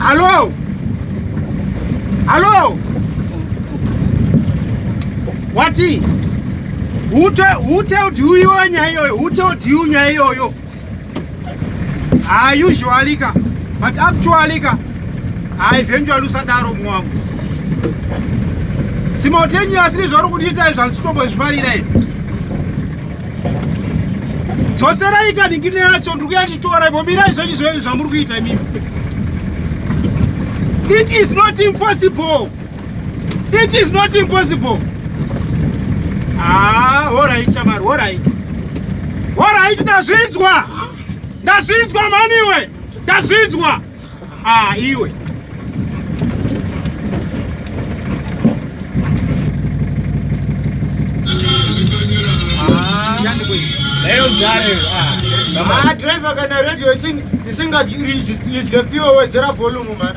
Alô? Alô? Wati? Who told you nyaya iyoyo? Who told you nyaya iyoyo? Ah, usually ka but actually ka ah, eventually usadaro mumwe wangu simultaneous nezvauri kutiita izvo handisitobo zvifarira izvi dzoserai ka ndingine yacho ndiri kuya ndichitora ipo mirai zvenyu zvenyu zvamuri kuita imimi it is not impossible It is not impossible. Ah, all right, Shamari, all right. All right, ndazvinzwa. Ndazvinzwa mani iwe. Ndazvinzwa. Ah, iwe. Ah, driver kana radio ising isingati idye fuel wedzera volume man.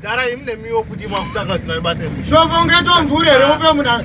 Gara imi nemiwo futi mwakutanga zina basa imi. Shofo ungeto mvure here upe muna.